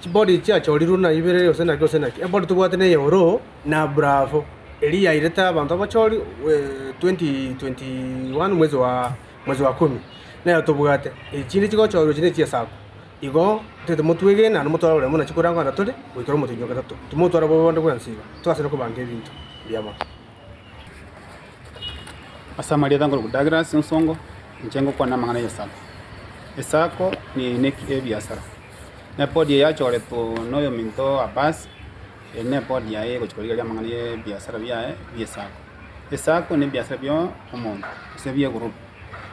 Chibori chiachorirwe na ibere gose naki gose naki. Ebori tobwate ne eyoroo na bravo eria yairete abanto abachori 2021 mwezi wa mwezi wa kumi nero tobwate. Echi chinde chigochorwa echi ne chiesaku. Igo ntete motwegene naende motware oboremu na chikorango anda tore goikera omotienyi o gatato. Timotwara bobe bonde bwensi iga. Togaserwe kobanga ebinto bi'amang'ana. Ase amarieta nkorokwa Douglas Nsongo, inche ngokwana amang'ana ye sacco. Esacco ne ebiasara, ne ebodi eye yachoretwe na oyominto Abbas, eye ne ebodi yaye egochia korigereria amang'ana ye ebiasara biaye bie sacco. Esacco ne ebiasara bia omonto gose bie egroup.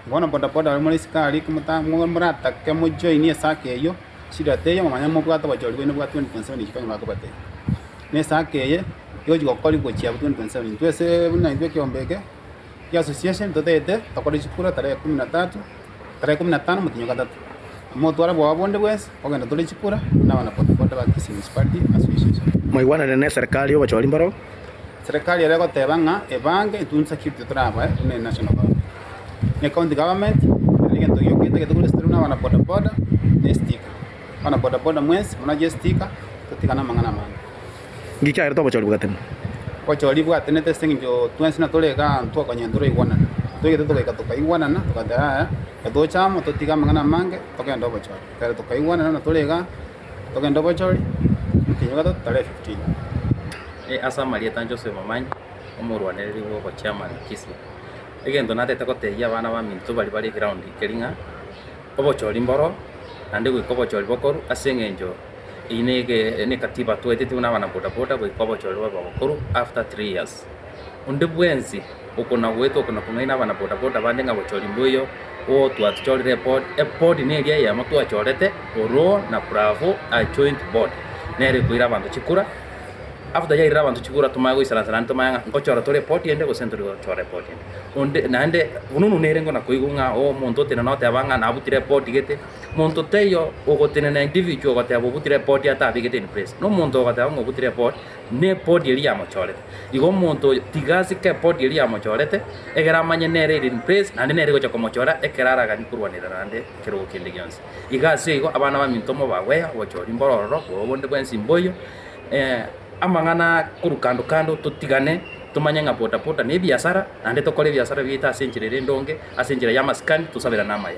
Bono bodaboda ore more isiko aria, ekero moratake mo join esako eyio, shida teiyo, momanye mobwate obochori bwaino bwa 2027 ekio kanyuma bakobatebia. Na esako eye, egochi gokoriwa gochia 2027. Intwe ase buna intwe ekeombe eke, kia association, totagete tokore chikura tarehe ekumi na tatu, tarehe ekumi na tano motenyi o gatato. Motware obobe bonde bwensi, Kogenda tore chikura nabana bodaboda ba Kisii Municipality Association. Mwaigwanane ne serikali y'obochori mboro. Serikali ere goteba ng'a ebange insecurity torabae buna ere national government. Ne county government ere negento giokete gete kore esitiru nabana bodaboda ne sticker. Abana bodaboda mwensi muna chie sticker totigane amang'ana amange. Ngiki aerete obochori bwatenete. Obochori bwatenete ase engencho twensi natore iga twakonyara toraigwanana. Toigete togaika tokaigwanana togateba yaya totoche amo totige amang'ana amange togende obochori. Ekero tokaigwanana natore iga togende obochori omotienyi ogatata tarehe fifteen. Ase amarieta inche Joseph Momanyi, omorwanereri bw'obochairman Kisii. Egento natete gotebia abana baminto baria bare eground keri ng'a obochori mboro naende goika obochori bokorwa ase engencho Eye nekatiba twaeteti buna abana boda boda goika obochorero babe abakoro after three years. Onde bwensi okona goeta okona kong'aina abana boda boda bande ng'a bochori mboiyo oo twachorire epod, epod neria eyemo twachorete oroo na bravo a joint board nero ekoira abanto chikura after yairire abanto chikura tomanye goisaransana aria tomanye ng'a ngochora tore epod ende gose ntori gochora epod ende. Onde naende, buna omonto nere ngona koigwa ng'a omonto otenena oteba ng'a nabutire epod gete. Monto teiyo ogotenena individual ogoteba obuti report atabegete in place. Na omonto ogoteba ng'a obuti report nebody eria yamochorete. Igo omonto oyo tiga asike ebody eria yamochorete egere amanye nere ere in place naende nere egocha komochora ekero araganie korwanera naende ekerogo kende gionsi. Iga asio igo abana baminto mobagweya obochori mboro ororo obo obonde bwensi mboiyo. Amang'ana korwa kando kando totigane tomanye ng'a bodaboda nebiasara naende tokore ebiasara biaito ase enchera ere endonge ase enchera yamasikani tosaberane amaye.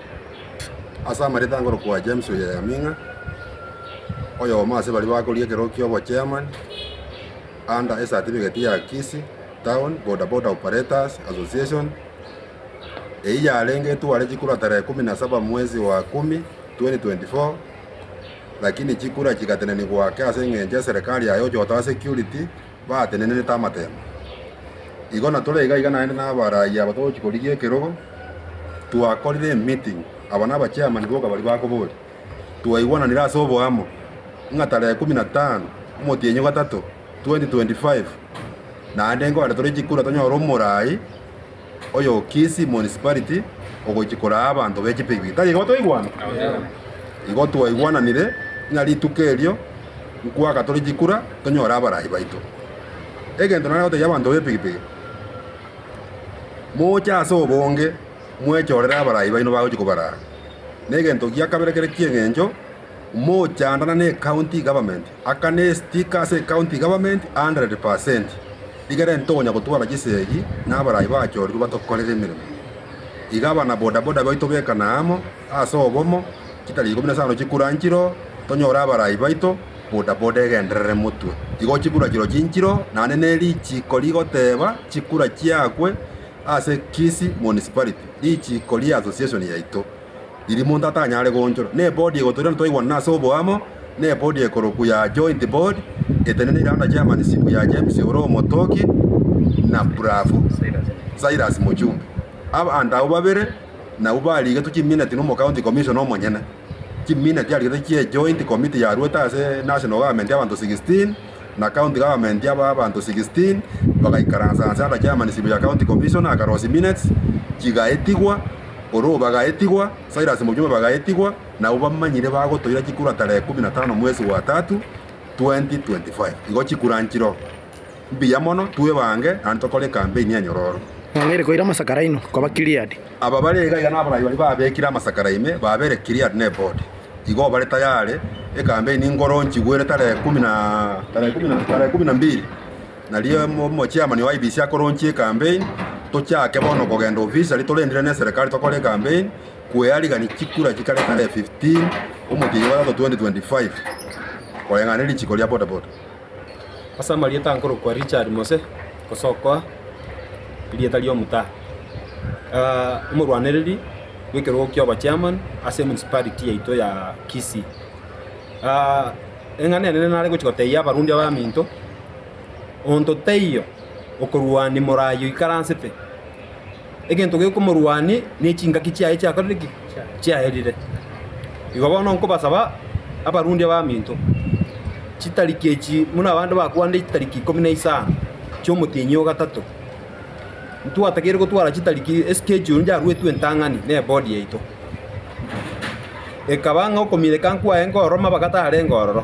Ase amareta ngorokwa James Oyeyaming'a, oyomo ase baria bakoria ekerogo kia obochairman under esatifigeti ya Kisii Town Bodaboda Operators Association, eyio yarenge etware chikura tarehe kumi na saba mwezi wa kumi 2024 lakini chikura chigatenenigwa ake ase eng'encho eserekari yaye ochotoa security. baatenenenete amateema. Igo na tore iga iga naende nabarayia aba togochia korigia ekerogo, twakorire emeeting, aba na abachairman boka baria bakoboria, twaigwananire ase oboamo ng'a tarehe ikomi na tano omotienyi o gatato 2025 naende nkogenda tore chikura tonyore omorai, oyo Kisii Municipality ogochia koraa abanto be chipigipigi. Tari igo twaigwana? Igo twaigwananire ng'a rituko erio nkwaka tore chikura tonyore abaraai baito. Egento nare gotebia abanto b'epigipigi, moche ase obonge mwechorere abaraai baino bagochia kobaraa. Negento gia kabere kere ki'eng'encho. omochandana ne county government akane estika ase ecounty government 100%, rigerente tokonya gotwara chisegi na abarai bachorirwe batokorere emeremo. Iga abana bodaboda baito bekana amo ase obomo, chitari ikomi na isano chikura nchiro, tonyore abarai baito, bodaboda egenderere motwe. Igo chikura chiro chinchiro naende ne richiko rigoteba chikura chiakwe ase Kisii Municipality, richiko ria association yaito. riria monto atanyare goonchora, ne bodi egotoria na twaigwanana ase oboamo, ne bodi ekorokwa ya Joint Board, eteneneire under chairmanship ya James ore omotoki na Bravo Cyrus Mochunge. Abanto abwo babere nabwo barigetwe chimineti na omocounty commissioner omonyene. Chimineti arigetwe chie Joint Committee yaruete ase National Government abanto 16, na county government yabo abanto 16 bagaikaransa ase agachamanisibo ya county commission akarosi minutes chigaetigwa Oroo bagaetigwa Silas Mujuma bagaetigwa nabo bamanyire bagotoira chikura tarehe 15 mwesi gwa tatu 2025 igo chikura nchiro mbuya mono twebange naende tokore ecampaign enyororo. Mwang'eire koira amasakara aino koba Gilead. Aba bare iga iga naborai baria babekire amasakara ime, babere Gileadi na Ebodi. Igo bare tayare, ekambeini enkoro nchigwere tarehe ikomi na mbiri, na riria omochiamani o IEBC akoronchia ekambeini, tochake bono kogenda officially torendire neserekari tokore ekambeini, kwearigani chikura chikare tarehe 15 omwechio oyogotato 2025, koreng'ana nerichiko ria bodaboda. Ase amarieta nkorokwa Richard Mose, gosokoa erieta ri'omotaa, omorwanereri bw'ekerogo ki'oba chairman ase emunicipality yaito ya Kisii. Eng'ana enene nare gochia gotebia abarundi abaminto, onto taiyo okorwania morayi oikaransete. egento gekomorwania ne chingaki chiaye chiakorire ki? Chiaerire. Igo bono nkobasaba abarundi abaminto, chitariki echi buna abande bakwanire chitariki ikomi na isano chi'omotienyi o gatato, ntwatageire gotwara chitariki eschedule nchiaruetwe entang'ani ne board yaito. Ekaba ng'a okominyekanku kwaye nkororoma bagatarenge ororo.